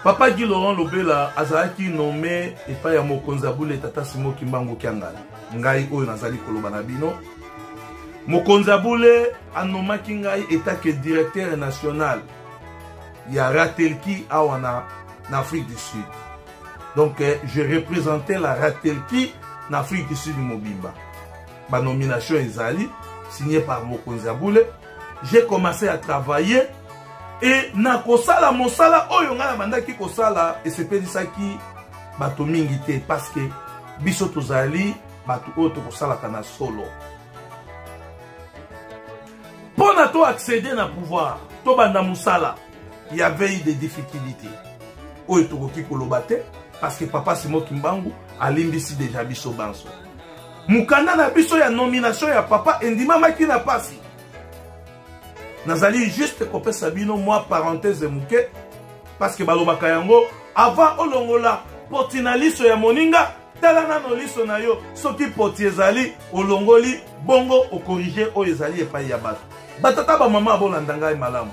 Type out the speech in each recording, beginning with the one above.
papa guy laurent lobela azalaki nome epai ya mokonzi ya bule tata simo kimbangu kiangani ngai oyo nazali koloba na bino mokonzi ya bule anomaki ngai etake directeur national ya ratelki awa na, na afrique du sud donc eh, je représentais la ratelki na afrique du sud mobimba ba nomination ezali signé par mokonzi ya bule j'ai commencé à travailler et na kosala mosala oyo ngai nabandaki kosala esepelisaki bato mingi te parce que biso tozali bato oyo tokosalaka na solo mpo na to accéder na pouvoir tobanda mosala ya veille de difficulté oyo tokoki koloba te parce que papa simo kimbangu alimbisi deja biso banso mokanda na biso ya nomination ya papa endimamaki na pasi nazali juste kopesa bino mwa parenthèse moke parce que balobaka yango avant olongola poti na liso ya moninga tala nano liso na yo soki poti ezali olongoli bongo okorige oyo ezali epai ya bato batata bamama abolanda ngai malamu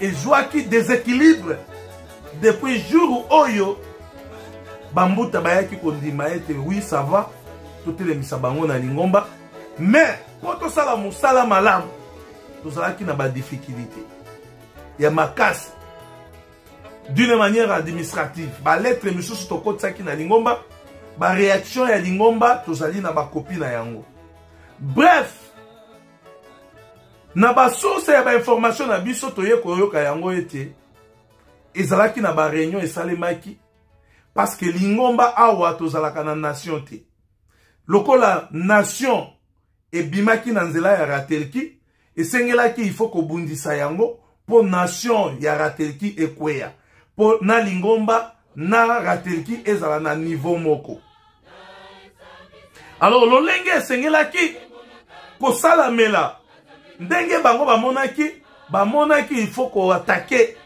ezwaki desequilibre depuis jour oyo bambuta bayaki kondima ete oui ça va totelemisa bango na lingomba mais mpo tosala mosala malamu tozalaki na badifficulté ya makasi d'une manière administrative balettre misusu tokotisaki na lingomba bareaction ya lingomba tozali na bakopi na yango bref na basource ya bainformation na biso toye koyoka yango ete ezalaki na bareunion esalemaki parce que lingomba awa tozalaka na nation te lokola nation ebimaki na nzela ya ratelki esengelaki il faut kobundisa yango mpo nation ya ratelki ekweya mpo na lingomba na ratelki ezala na niveau moko alors lolenge esengelaki kosalamela ndenge bango bamonaki bamonaki il faut koatake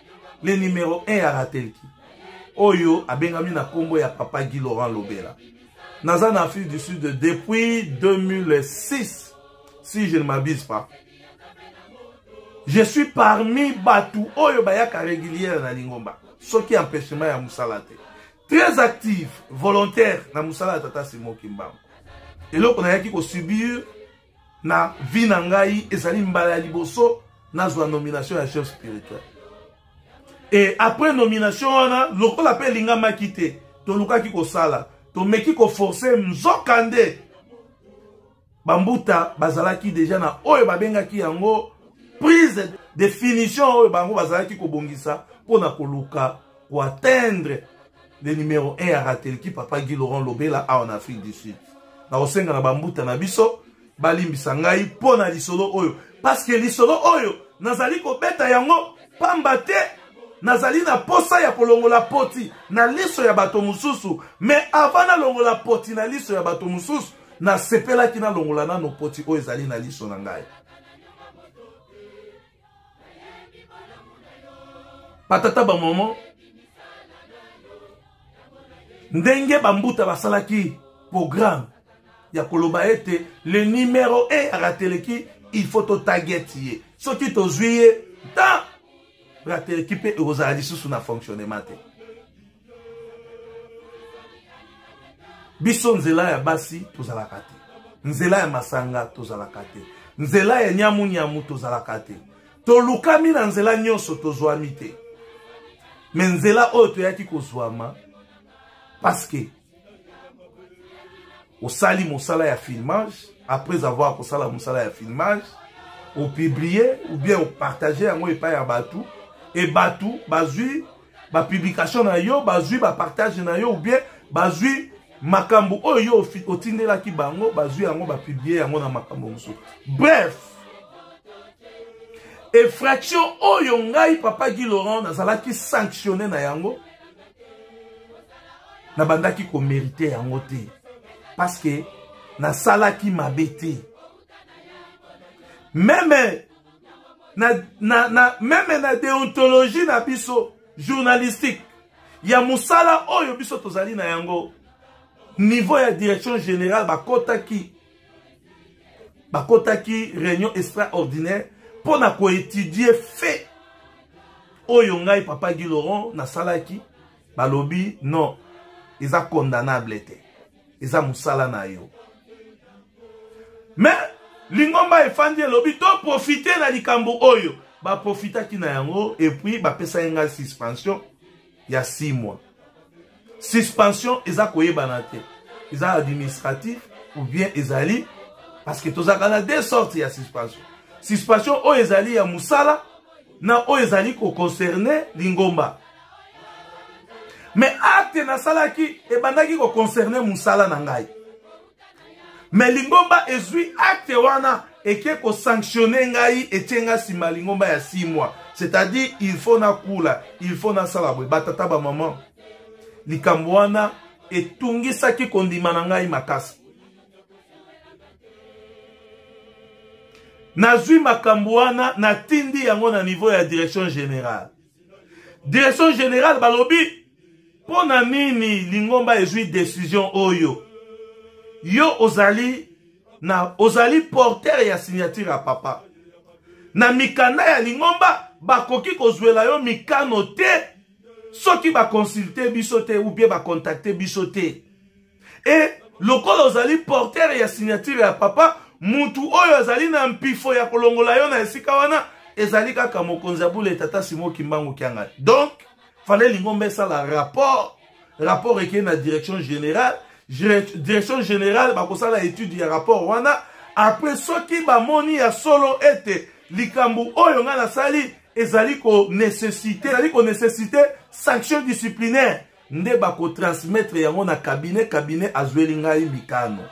le numero 1 ya ratelki oyo abengami na nkombo ya papa guy laurent lobela naza na afrique du sud depuis 2006 si je ne m'abuse pas je suis parmi bato oyo bayaka régulière na lingomba soki empêchement ya mosala te très active volontaire na mosala ya tata simo kimbangu eloko nayaki kosubir na vie na ngai ezali mbala ya liboso nazwa nomination ya chef spirituel e après nomination wana lokola mpe elingamaki te tolukaki kosala tomeki koforce nzoka nde bambuta bazalaki deja na oyo babengaki yango prise de finition oyo bango bazalaki kobongisa mpo na koluka koatteindre le numero 1 ya ratelki papa guy laurent lobela awa na afrique du sud nakosenga na bambuta na biso balimbisa ngai mpo na lisolo oyo paske lisolo oyo nazali kobeta yango pamba te nazali na posa ya kolongola poti na liso ya bato mosusu me avant nalongola poti na liso ya bato mosusu nasepelaki nalongola nano poti oyo ezali na liso na ngai batata bamama ndenge bambuta basalaki programe ya koloba ete le numero e ya rateleki il faut totagete ye soki tozwi ye ta rateleki mpe ekozala lisusu na fonctionnement te biso nzela ya basi tozalaka te nzela ya masanga tozalaka te nzela ya nyamunyamu tozalaka te tolukami na nzela nyonso tozwami te me nzela oyo toyaki kozwama paske osali mosala ya filmage après avoir kosala mosala ya filmage opublie ou bien opartage yango epai ya bato e bato bazwi bapublication na yo bazwi bapartage na yo ou bien bazwi makambo oyo yo otindelaki bango bazwi yango bapublie yango na makambo mosusu bref effraction oyo ngai papa guy laurent nazalaki sanctionne na yango nabandaki komerite yango te paske nasalaki mabe te meme na, na, na, meme na deontologie na biso journalistique ya mosala oyo biso tozali na yango niveau ya direction générale bakotaki bakotaki réunion extraordinaire mpo na koétudie fait oyo ngai papa guy laurent nasalaki balobi non eza condamnable te eza mosala na yo mais lingomba efandi elobi toprofite na likambo oyo baprofitaki na yango epuis bapesaki ngai suspension ya 6 mois suspension eza koyebana te eza administratif ou bien ezali parce que tozalaka na deux sortes ya suspension suspension oyo ezali ya mosala na oyo ezali koconcerne lingomba mais acte nasalaki ebandaki koconcerne mosala na ngai mais lingomba ezwi acte wana eke kosanctionne ngai etie ngai nsima ya lingomba ya 6 mois c'est-à-dire il faut nakula il faut nasala boye batata bamama likambo wana etungisaki kondima na ngai makasi nazwi makambo wana natindi yango na niveau ya direction générale direction générale balobi mpo na nini lingomba ezwi décision oyo yo ozali na ozali porteur ya signature ya papa na mikanda ya lingomba bakoki kozwela yo mikano te soki bakonsulte biso te ou bien bakontakte biso te e lokola ozali portere ya signature ya papa mutu oyo azali na mpifo ya kolongola yo na esika wana ezali kaka mokonzi ya bule tata simo kimbangu kiangani donc fale lingomba esala rapport rapport ekei na direction générale direction générale bakosala étude ya rapport wana apres soki bamoni ya solo ete likambo oyo ngai nasali ezali konesesite ezali konesesite sanction disciplinaire nde bakotransmettre yango na kabine kabine azweli ngai mikano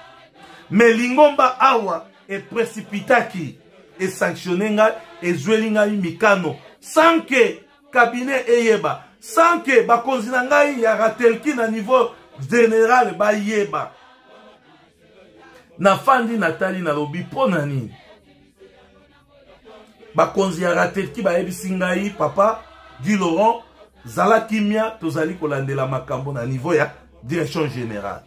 me lingomba awa eprecipitaki esanctionne ngai ezweli ngai mikano sans ke kabine eyeba sans ke bakonzi na ngai ya ratelki na niveau general bayeba nafandi natali nalobi mpo na nini bakonzi ya ratetki bayebisi ngai papa guy laurent zala kimia tozali kolandela makambo na niveau ya direction générale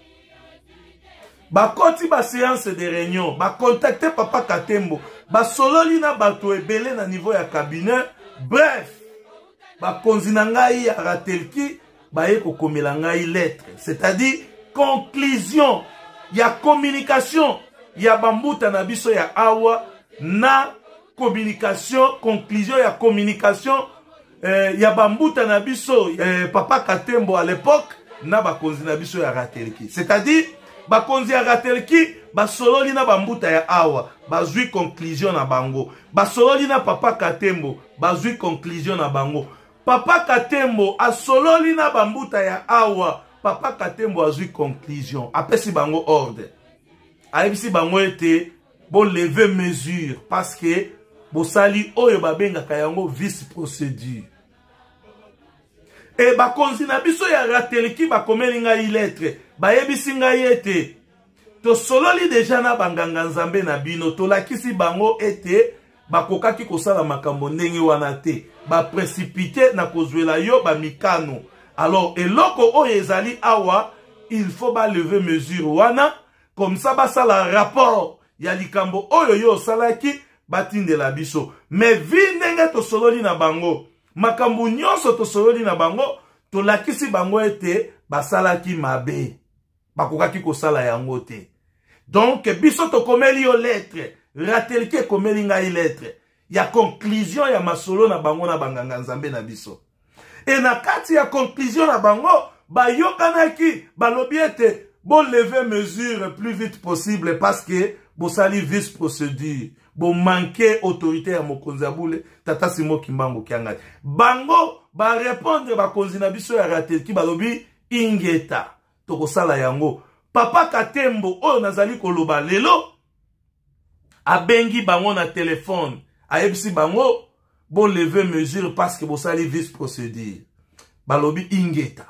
bakoti baseance de réunion bakontakte papa katembo basololi na bato ebele na niveau ya cabinet bref bakonzi na ngai ya ratelki baye kokomela ngai lettre c'est-à-dire conclusion ya communication ya bambuta na biso ya awa na communication conclusion ya communication eh, ya bambuta na biso eh, papa katembo à l'époque na bakonzi na biso ya ratelki c'est-à-dire bakonzi ya ratelki basololi na bambuta ya awa bazwi conclusion na bango basololi na papa katembo bazwi conclusion na bango papa katembo asololi na bambuta ya awa papa katembo azwi conclusion apesi bango ordre ayebisi bango ete boleve mesure parce que bosali oyo babengaka yango vice procédure e bakonzi na biso ya rateliki bakomeli ngai letre bayebisi ngai ete tosololi deja na banganga nzambe na bino tolakisi bango ete bakokaki kosala makambo ndenge wana te bapresipite na kozwela yo bamikano alors eloko oyo ezali awa il faut baleve mesure wana comme ça basala rapport ya likambo oyo yo osalaki batindela biso mais vi ndenge tosololi na bango makambo nyonso tosololi na bango tolakisi bango ete basalaki mabe bakokaki kosala yango te donk biso tokomeli yo lettre ratelki ekomeli ngai lettre ya conclusion ya masolo na bango na banganga nzambe na biso e na kati ya conclusion na bango bayokanaki balobi ete boleve mesure plus vite possible parce que bosali vice procédure bomanke autorité ya mokonzi ya bule tata simo kimbangu kiangani bango barepondre bakonzi na biso ya ratelki balobi ingeta tokosala yango papa katembo oyo nazali koloba lelo abengi bango na telefone ayebisi bango boleve mesure parce que bosali vice procédure balobi ingeta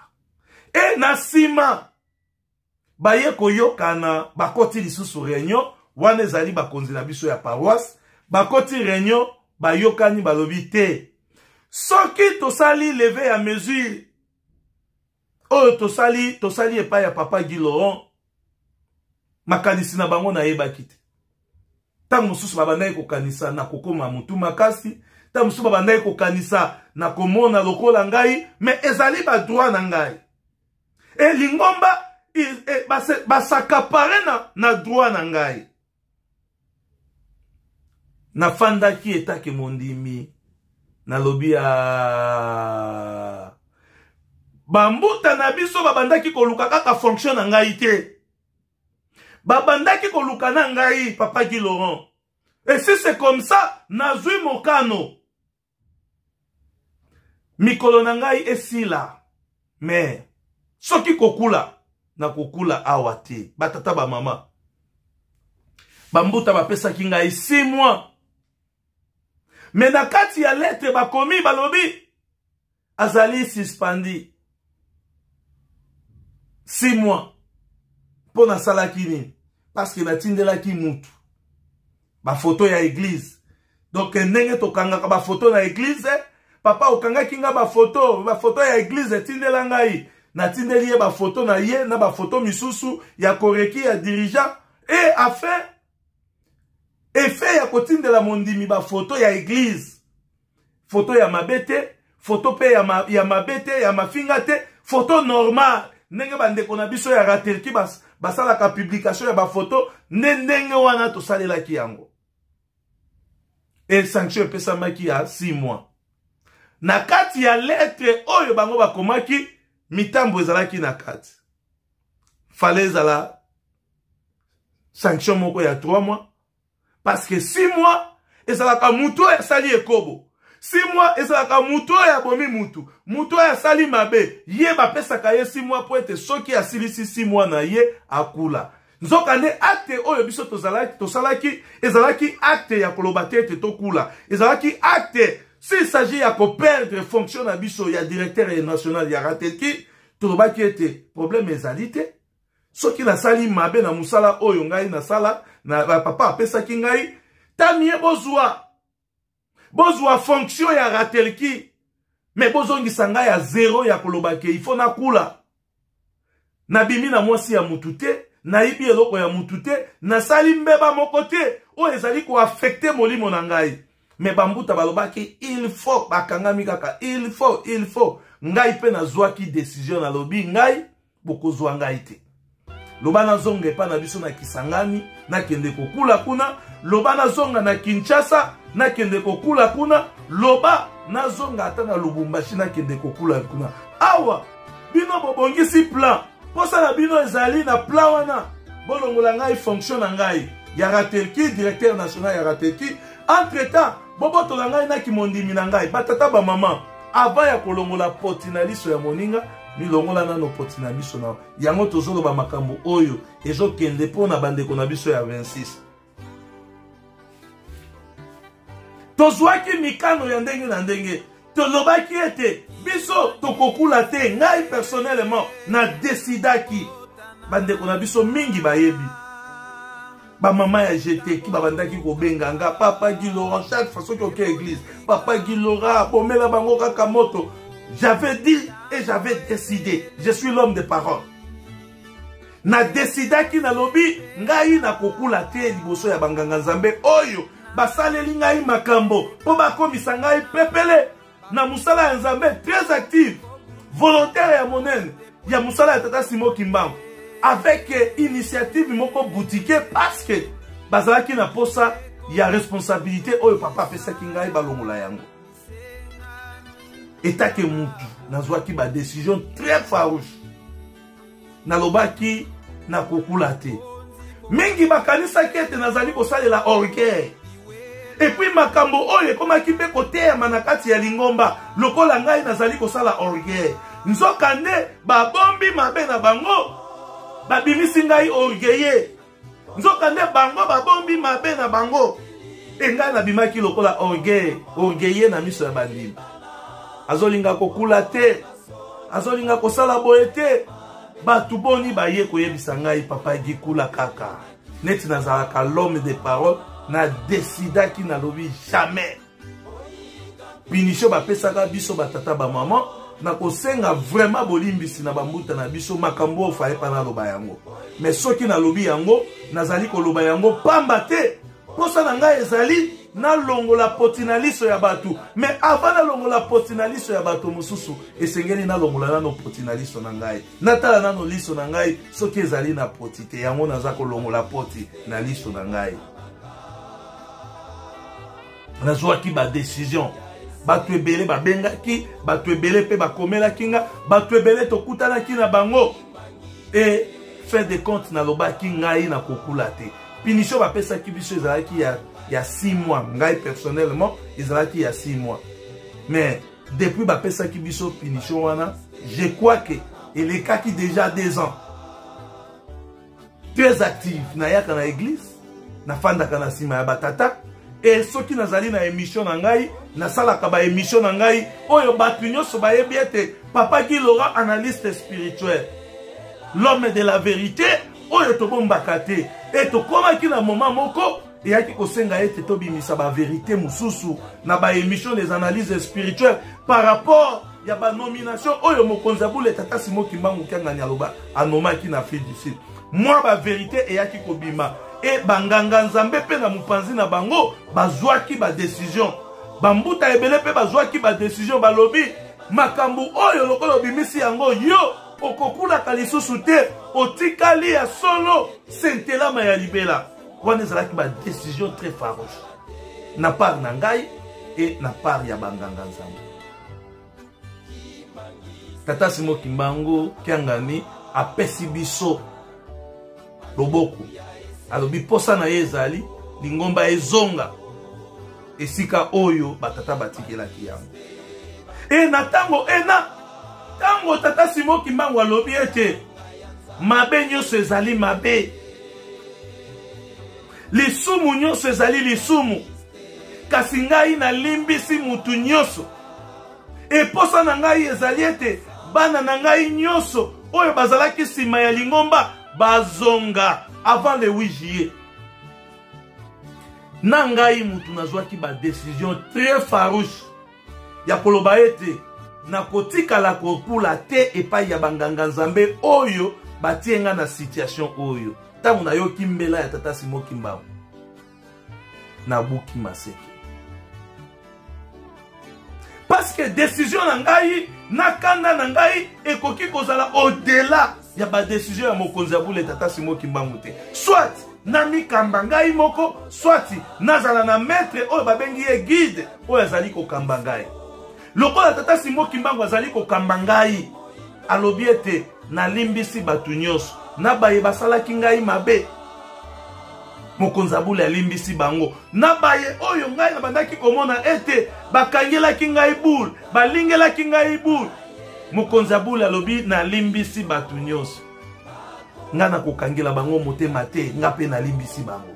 e na nsima baye koyokana bakoti lisusu réunion wana ezali bakonzi na biso ya paroisse bakoti réunion bayokani balobi te soki tosali leve ya mesure oyo tosali tosali epai ya papa guy laurent makanisi na bango nayebaki te ntango mosusu babandaki kokanisa na kokoma motu makasi ntango mosusu babandaki kokanisa na komona lokola ngai me ezali badroit na ngai elingomba basakapare na, na droit na ngai nafandaki etake mondimi nalobi ya ah. bambuta na biso babandaki koluka kaka fonction na ngai te babandaki koluka na ngai papa gi laurent et si c'est comme ça nazwi mokano mikolo na ngai esila me soki kokula na kokula awa te batata bamama bambuta bapesaki ngai si mois me na kati ya letre bakomi balobi azali suspendi 6 mois mpo nasalaki nini parce que natindelaki mutu bafoto ya eglize donc ndenge tokangaka bafoto na eglize papa okangaki nga bafoto bafoto ya eglize etindela ngai natindeli ye bafoto na ye na bafoto misusu ya koreki ya dirigeant e afin efe ya kotindela mondimi bafoto ya eglize foto ya mabe te foto mpe ya, ma, ya mabe te ya mafinga te foto normal ndenge bandeko na biso ya raterki bas, basalaka publication ya bafoto nde ndenge wana tosalelaki yango e sanction epesamaki ya 6 mois na kati ya letre oyo bango bakomaki mitambo ezalaki na kati fale ezala sanction moko ya 3 mois parce que si moi ezalaka moto oyo asali ekobo si moi ezalaka moto oyo abomi motu moto oyo asali mabe ye bapesaka ye si moi mpo ete soki asilisi si moi na ye akula nzokande akte oyo biso tosalaki ezalaki akte ya koloba te ete tokula ezalaki akte s'il s'agit ya koperdre fonction na biso ya directeur national ya ratelki tolobaki ete problème ezali te soki nasali mabe na mosala oyo ngai nasala na papa apesaki ngai tamie bozwa bozwa fonction ya ratelki me bozongisa ngai ya zero ya koloba ke ifo nakula nabimi na mwasi ya mutu te nayibi eloko ya mutu te nasali mbeba moko te oyo ezali koafekte molimo na ngai me bambuta balobaki il faut bakangami kaka il faut il faut ngai mpe nazwaki desizio nalobi ngai bokozwa ngai te loba nazonga epai na biso na kisangani nakende kokula kuna loba nazonga na kinshasa nakende kokula kuna loba nazonga ata na lubumbashi nakende kokula kuna awa bino bobongisi plan mposa na bino ezali na plan wana bolongola ngai fonction na ngai ya ratelki directeur national ya ratelki entre temps bobotola ngai na kimondimi na ngai batata bamama avant ya kolongola poti na liso ya moninga milongola nano poti na biso na yango tozoloba makambo oyo ezokende mpo na bandeko na biso ya 26 tozwaki mikano ya ndenge na ndenge tolobaki ete biso tokokula te ngai personnellement na desidaki bandeko na biso mingi bayebi bamama ya jeteki babandaki kobenga nga papa gilora chaque fois soki oke église papa gilora bomela bango kaka moto j'avais dit et j'avais décidé je suis l'homme de parole nadesidaki nalobi ngai nakokula te liboso ya banganga nzambe oyo basaleli ngai makambo mpo bakomisa ngai pepele na mosala ya nzambe très active volontaire ya monene ya mosala ya tata simo kimbangu avec eh, initiative moko boutique parce que bazalaki na mposa ya responsabilité oyo papa apesaki ngai balongola yango etake mutu nazwaki badecision très farouche nalobaki nakokula te mingi bakanisaki ete nazali kosalela orgueil epuis makambo oyo ekomaki mpe koteyama na kati ya lingomba lokola ngai nazali kosala orgueil nzokande babombi mabe na bango babimisi ngai orgueille nzokande bango babombi mabe na bango engai nabimaki lokola orgueil orgueille na miso ya bandimi azolinga kokula te azolinga kosala boye te bato boni baye koyebisa ngai papa gikula kaka neti nazalaka l'homme de parole na desidaki nalobi jamais punition bapesaka biso batata bamama na kosenga vraiment bolimbisi na bambuta na biso makambo oyo faye pana aloba yango me soki nalobi yango nazali koloba yango pamba te mposa na ngai ezali nalongola poti na liso ya bato me avant nalongola poti na liso ya bato mosusu esengeli nalongola nano poti na liso na ngai natala nano liso na ngai soki ezali na poti te yango naza kolongola poti na liso na ngai nazwaki badecision bato ebele babengaki bato ebele mpe bakomelaki nga bato ebele tokutanaki na bango e fin de compte nalobaki ngai nakokula te punition bapesaki biso ezalaki ya, ya 6 mois ngai personnellement ezalaki ya 6 mois mais depuis bapesaki biso punition wana je crois que elekaki déjà 2 ans très active nayaka na eglise nafandaka na nsima ya batata e soki nazali na emission na ngai nasalaka baemission na ngai oyo bato nyonso bayebi ete papa gi laurent analyste spirituel l'homme de la vérité oyo tobombaka te e tokomaki na moma moko eyaki kosenga ete tobimisa baverité mosusu na baémission des analyses spirituelles par rapport ya banomination oyo mokonzi ya bule tata simo kimbangu kiangani aloba anomaki na afrique du sud mwa baverité eyaki kobima e banganga nzambe mpe na mopanzi na bango bazwaki badesizio bambuta ebele mpe bazwaki badesizio balobi makambo oyo lokola obimisi yango yo okokulaka lisusu te otikali ya solo sentelama ya libela wana ezalaki badecision très farouche na part na ngai e na part ya banganga nzambe tata simo kimbangu kiangani apesi biso loboko alobi mposa na ye ezali lingomba ezonga esika oyo batata batikelaki yango e na ntango ena ntango tata simo kimbangu alobi ete mabe nyonso ezali mabe lisumu nyonso ezali lisumu kasi ngai nalimbisi motu nyonso eposa na ngai ezali ete bana na ngai nyonso oyo bazalaki nsima ya lingomba bazonga avant le 8 juillet na ngai motu nazwaki badecision très farouche ya koloba ete nakotikala kokula te epai ya banganga nzambe oyo batie nga na situation oyo ntango nayoki mbela ya tata simo kimbangu nabuki maseke parce que décision na ngai na kanda na ngai ekoki kozala au-delà ya badesizio ya mokonzi ya bule tata simo kimbangu te soit namikamba ngai moko soit nazala na maître oyo babengi ye guide oyo azali kokamba ngai lokola tata simo kimbangu azali kokamba ngai alobi ete nalimbisi bato nyonso na baye basalaki ngai mabe mokonzi abule alimbisi bango na baye oyo ngai nabandaki komona ete bakangelaki ngai bule balingelaki ngai bule mokonzi ya bule alobi nalimbisi bato nyonso ngai nakokangela bango motema te ngai mpe nalimbisi bango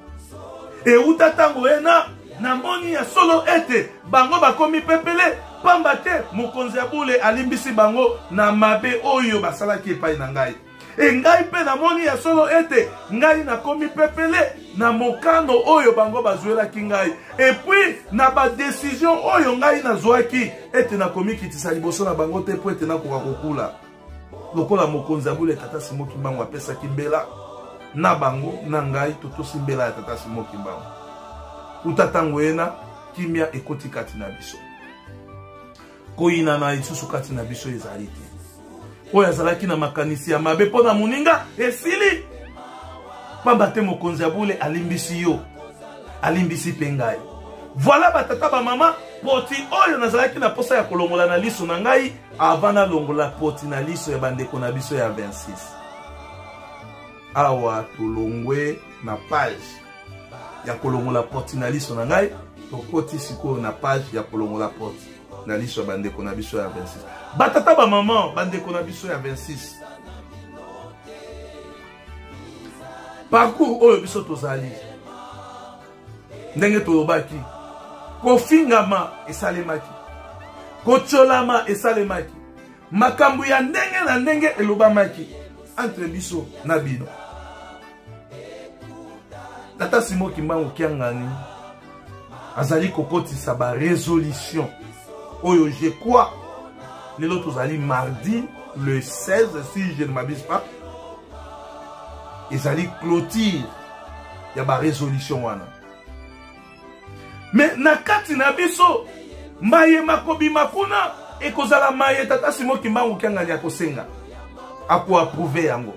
euta ntango ena namoni ya solo ete bango bakomi pepele mpamba te mokonzi ya bule alimbisi bango na mabe oyo basalaki epai na ngai e ngai mpe namoni ya solo ete ngai nakomi pepele na mokano oyo bango bazwelaki ngai epuis na badesizio oyo ngai nazwaki ete nakomikitisa liboso na bango te mpo ete nakoka kokula lokola mokonzi ya bule tata simo kimbangu apesaki mbela na bango na ngai totosi mbela ya tata simo kimbangu uta ntango ena kimia ekoti kati na biso koyinana lisusu kati na biso ezali te oyo azalaki na makanisi ya mabe mpo na moninga esili mpamba te mokonzi ya bule alimbisi yo alimbisi mpe ngai voila batata bamama poti oyo nazalaki na mposa ya kolongola na liso na ngai avant nalongola poti na liso ya bandeko na biso ya 26 awa tolongwe na page ya kolongola porti na liso na ngai tokoti sikoyo na page ya kolongola porti na liso ya bandeko na biso ya 26 batata bamama bandeko na biso ya 26 parcours oyo biso tozali ndenge tolobaki kofingama esalemaki kotyolama esalemaki makambo ya ndenge na ndenge elobamaki entre biso na bino tata simo kimbangu kiangani azali kokotisa baresolution oyo je crois lelo tozali mardi le 16 si je ne m'abuse pas ezali clôture ya baresolution wana me na kati na biso maye makobima kuna ekozala maye tata simo kimbangu kiangani akosenga akoapprouve yango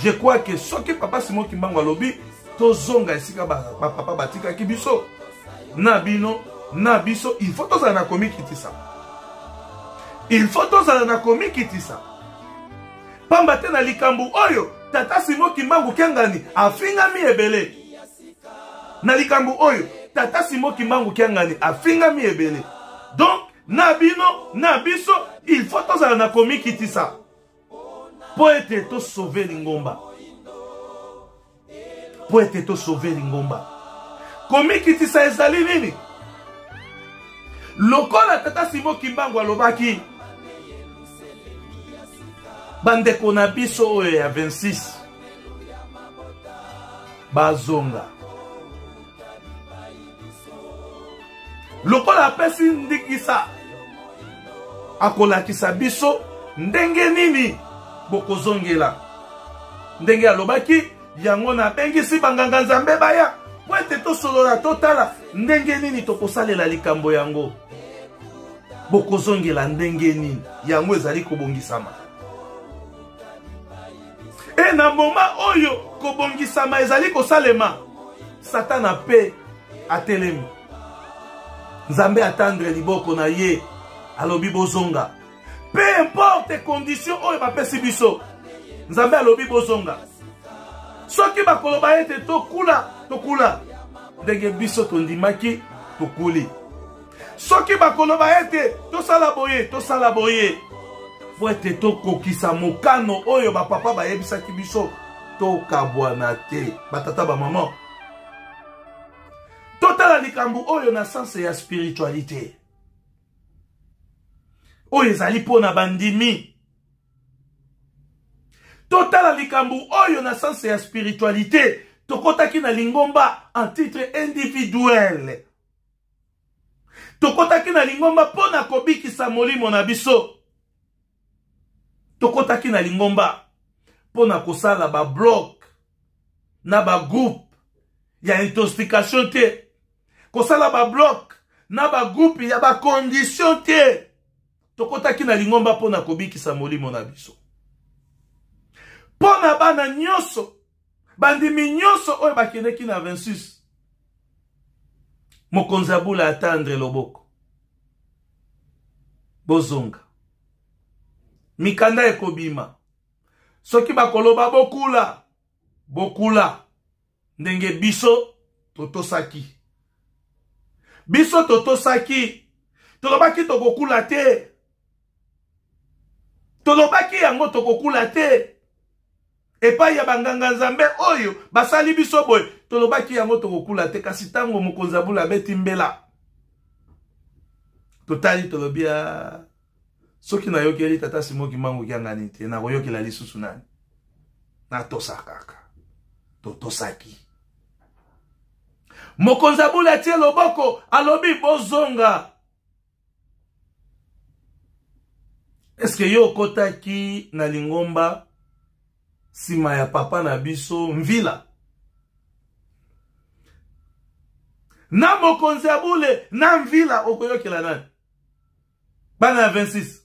je crois ke soki papa simo kimbangu alobi tozonga esika bapapa ba batikaki biso na bino na biso il faut tozala na komikitisa il faut tozala na komikitisa pamba te na likambo oyo tata simo kimbangu kiangani afingami ebele na likambo oyo tata simo kimbangu kiangani afingami ebele donc na bino na biso il faut tozala na komikitisa mpo ete tosauve lingomba mpo ete tosauve lingomba komikitisa ezali nini lokola tata simo kimbangu alobaki bandeko na biso oyo ya 26 bazonga lokola apesi ndingisa akolakisa biso ndenge nini bokozongela ndenge alobaki yango nabengisi banganga nzambe baya mpo ete tosolola totala ndenge nini tokosalela likambo yango bokozongela ndenge nini yango ezali kobongisama e na moma oyo kobongisama ezali kosalema satana mpe atelemi nzambe atandre liboko na ye alobi bozonga peu importe condition oyo bapesi biso nzambe alobi bozonga soki bakoloba ete tokula tokula ndenge biso tondimaki tokuli soki bakoloba ete tosala boye tosala boye mpo ete tokokisa mokano oyo bapapa bayebisaki biso tokabwana te batata bamama totala likambo oyo na sense ya spiritualité oyo ezali mpo na bandimi totala likambo oyo na sense ya spiritualité tokotaki na lingomba en titre individuel tokotaki na lingomba mpo na kobikisa molimo na biso tokotaki na lingomba mpo na kosala bablog na bagroupe ya intoxication te kosala bablok na bagroupe ya bakondition te tokotaki na lingomba mpo na kobikisa molimo na biso mpo na bana nyonso bandimi nyonso oyo bakendeki na 26 mokonzi ya bula ata andre loboko bozonga mikanda ekobima soki bakoloba bokula bokula ndenge biso totosaki biso totosaki tolobaki tokokula te tolobaki yango tokokula te epai ya banganga nzambe oyo basali biso boye tolobaki yango tokokula te kasi ntango mokonzi ya bula abeti mbela totali tolobi ya ah, soki nayokeli tata simoki mango kiangani te nakoyokela lisusu nani natosa kaka totosaki mokonzi abula atie loboko alobi bozonga eske yo okotaki na lingomba nsima ya papa na biso mvila na mokonzi ya bule na mvila okoyokela nani bana ya 26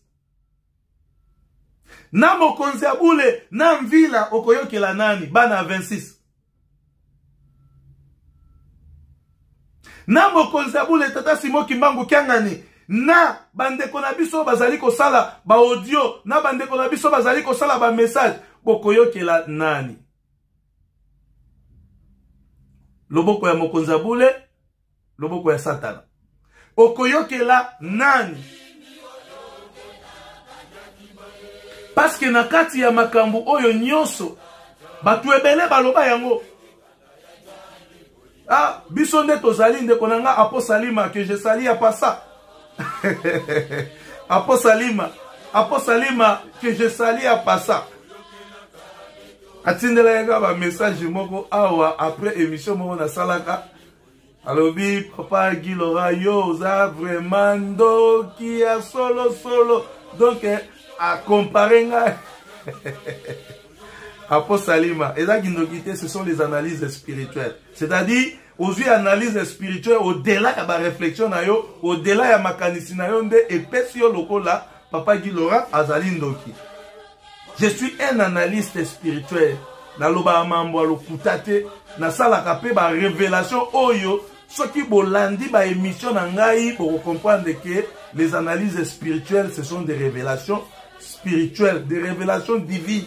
na mokonzi ya bule na mvila okoyokela nani bana ya 26 na mokonzi ya bule tata simo kimbangu kiangani na bandeko na biso bazali kosala baaudio na bandeko na biso bazali kosala bamessage bokoyokela nani loboko ya mokonzi ya bule loboko ya satana okoyokela nani paske na kati ya makambo oyo nyonso bato ebele baloba yango ah, biso nde tozali ndeko na nga aposalima ke je sali ya pasa aposalima aposalima ke je sali ya pasa atindelaki nga bamessage moko awa après émission moko nasalaka alobi papa gilora yo oza vraiment ndoki ya solosolo donk eh, akompare ngai apo salima eza kindoki te ce sont les analyses spirituelles c'est-à-dire ozwi analyse spirituelle odela ya baréflexion na yo odela ya makanisi na yo nde epesi yo lokola papa gilora azali ndoki je suis un analyste spirituel nalobaka mambo ya lokuta te nasalaka mpe barevelation oyo soki bolandi baémission na ngai bokokomprendre ke les analyses spirituelles ce sont des révélations spirituelles des révélations divines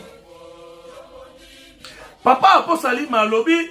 papa aposalima alobi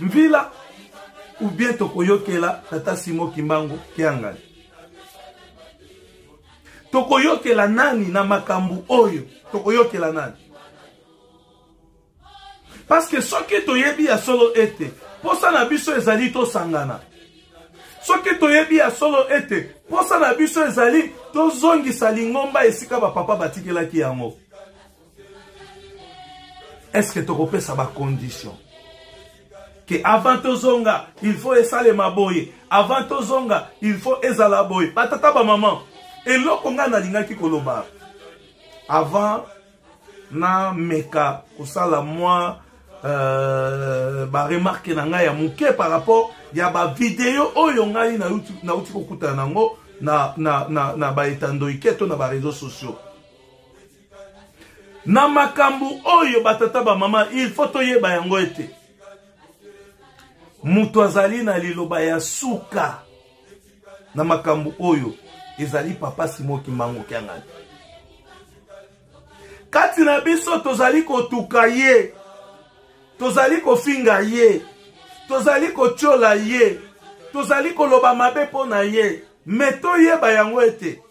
mvila ou bien tokoyokela tata simo kimbangu kiangani tokoyokela nani na makambo oyo tokoyokela nani parceke soki toyebi ya solo ete mposa na biso ezali tosangana soki toyebi ya solo ete mposa na biso ezali tozongisa lingomba esika bapapa batikelaki yango eske tokopesa bacondition ke avant tozonga il faut esalema boye avant tozonga il faut ezala boye batata bamama eloko ngai nalingaki koloba avant nameka kosala mwa euh, baremarke na ngai ya moke par rapport ya bavideo oyo ngai nauti kokutana na yango na, na, na, na baetandoike to na bareseau sociaux na makambo oyo batata bamama il faut toyeba yango ete moto azali na liloba ya suka na makambo oyo ezali papa simo kimbangu kiangani kati na biso tozali kotuka ye tozali kofinga ye tozali kotyola ye tozali koloba mabe mpo na ye me toyeba yango ete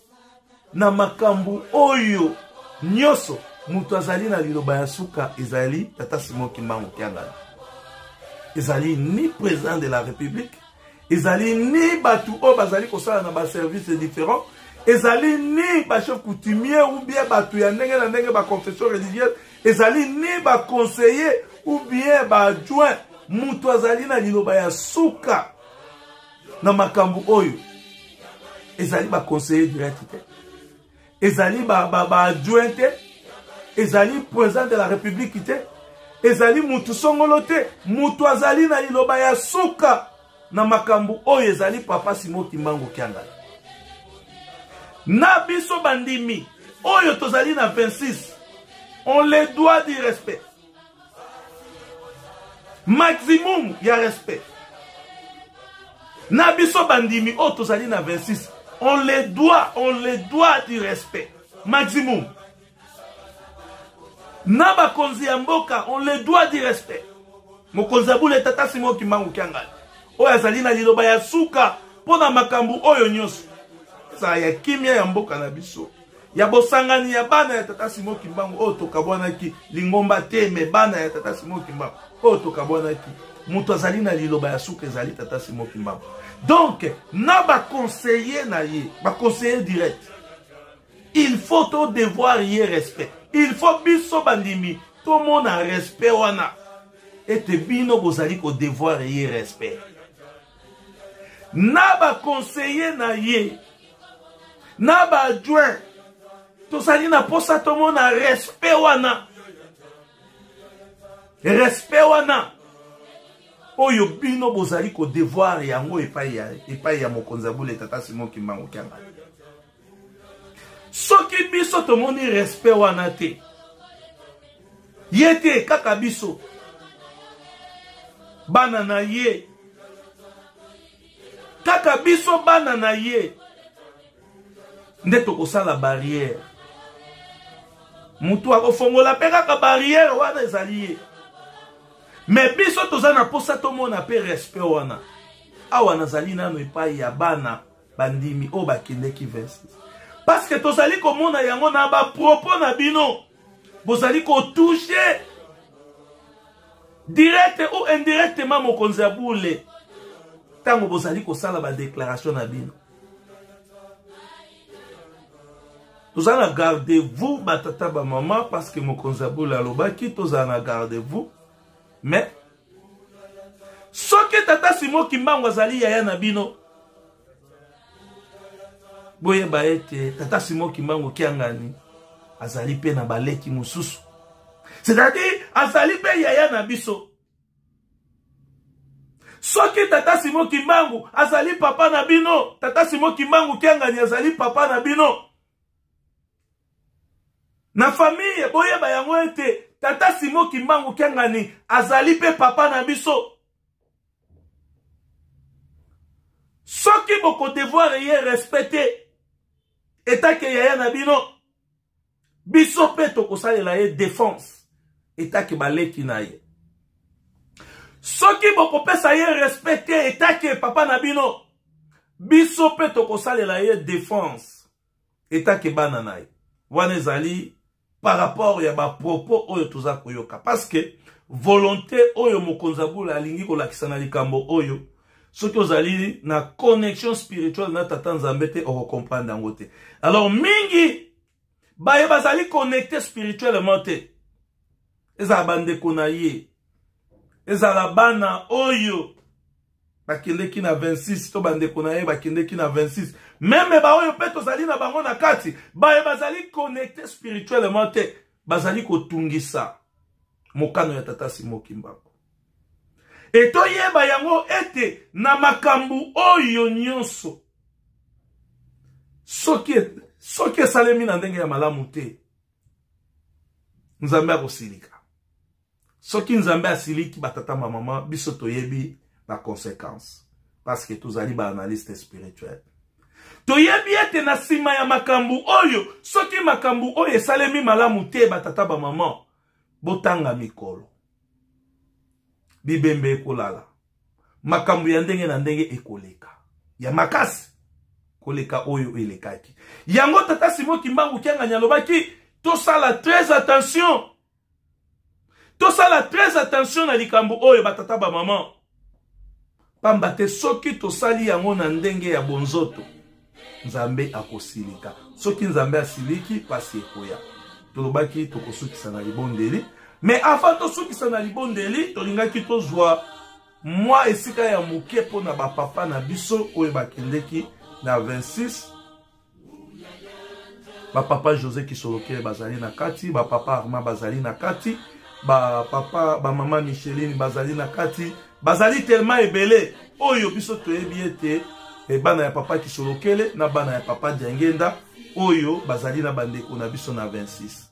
na makambo oyo nyonso moto azali na liloba ya suka ezali tata simon kimbangu kiangani ezali ni président de la république ezali ni bato oyo bazali kosala na baservice différent ezali ni bachef coutumier ou bien bato ya ndenge na ndenge baconfession religieuse ezali ni baconseiller ou bien baadjoint moto azali na liloba ya suka na makambo oyo ezali baconseiller direct te ezali baadjoint te ezali président de la république te ezali mutu songolo te mutu azali na liloba ya suka na makambo oyo ezali papa simo kimbangu kiangani na biso bandimi oyo tozali na 26 on les doit du respect maximum ya respect na biso bandimi oyo tozali na 26 on le doit on le doit du respect maximum na bakonzi ya mboka on le doit du respect mokonzi ya bule tata simo kimbangu kiangani oyo azali na liloba ya suka mpo na makambo oyo nyonso ezala ya kimia ya mboka na biso ya bosangani ya bana ya tata simo kimbangu oyo tokabwanaki lingomba te me bana ya tata simo kimbangu oyo tokabwanaki moto azali na liloba ya suka ezali tata simo kimbangu donc na baconseiller na ye baconseiller direct il faut todevoir ye respect il faut biso bandimi tomona respect wana ete bino bozali kodevoir ye respect na baconseiller na ye na ba adjoint tozali na mposa tomona respect wana respect wana oyo bino bozali kodevoir yango epai ya, epai ya mokonzi ya bule tata simo kimbangu kianga soki biso tomoni respect wana te ye te kaka biso bana na ye kaka biso bana na ye nde tokosala barrière motu akofongola mpe kaka barrière wana ezali ye me biso toza na mposa tomona mpe respect wana awa nazali nano epai ya bana bandimi oyo bakendeki verses parceke tozali komona yango na bapropos na bino bozali kotouche direct ou indirectement mokonzi ya bule ntango bozali kosala badeklaration na bino tozala na garde vous batata bamama parce que mokonzi ya bule alobaki tozala na garde vous mais soki tata simo kimbangu azali yaya na bino boyeba ete tata simo kimbangu kiangani azali mpe na baleki mosusu c'est-à-dire azali mpe yaya na biso soki tata simo kimbangu azali papa na bino tata simo kimbangu kiangani azali papa na bino na famille boyeba yango ete tata simo kimbangu kiangani azali mpe papa na biso soki bokodevoir ye respect te etake yaya na bino biso mpe tokosalela ye defense etake baleki na ye soki bokopesa ye respect te etake papa na bino biso mpe tokosalela ye defense etake bana na ye wana ezali par rapport ya bapropos oyo toza koyoka parceke volonté oyo mokonzi ya bula alingi kolakisa na likambo oyo soki ozali na connexion spirituelle na tata nzambe te okokomprendre yango te alors mingi baye bazali connecte spirituellement te ezala bandeko na ye ezala bana oyo bakendeki na 26 to bandeko na ye bakendeki na 26 meme baoyo mpe tozali na bango na kati baye bazali connecte spirituellement te bazali kotungisa mokano ya tata simo kimbangu e toyeba yango ete na makambo oyo nyonso soki soki esalemi na ndenge ya malamu te nzambe akosilika soki nzambe asiliki batata bamama biso toyebi baconséquence parce que tozali baanalyste spirituel toyebi ete na nsima ya makambo oyo soki makambo oyo esalemi malamu te batata bamama botanga mikolo bibembe ekolala makambo ya ndenge na ndenge ekoleka ya makasi koleka oyo elekaki yango tata simo kimbangu kiangani alobaki tosala très attention tosala très attention na likambo oyo batata bamama pamba te soki tosali yango na ndenge ya bonzoto nzambe akosilika soki nzambe asiliki mpasi ekoya tolobaki tokosukisa na libondeli me avant tosukisa na libondeli tolingaki tozwa mwa esika ya moke mpo na bapapa na biso oyo bakendeki na 26 bapapa josé kisolokele bazali na kati bapapa arma bazali na kati bapapa bamama micheline bazali na kati bazali telema ebele oyo biso toyebi ete eh, bana ya papa kisolokele na bana ya papa diangenda oyo bazali na bandeko na biso na 26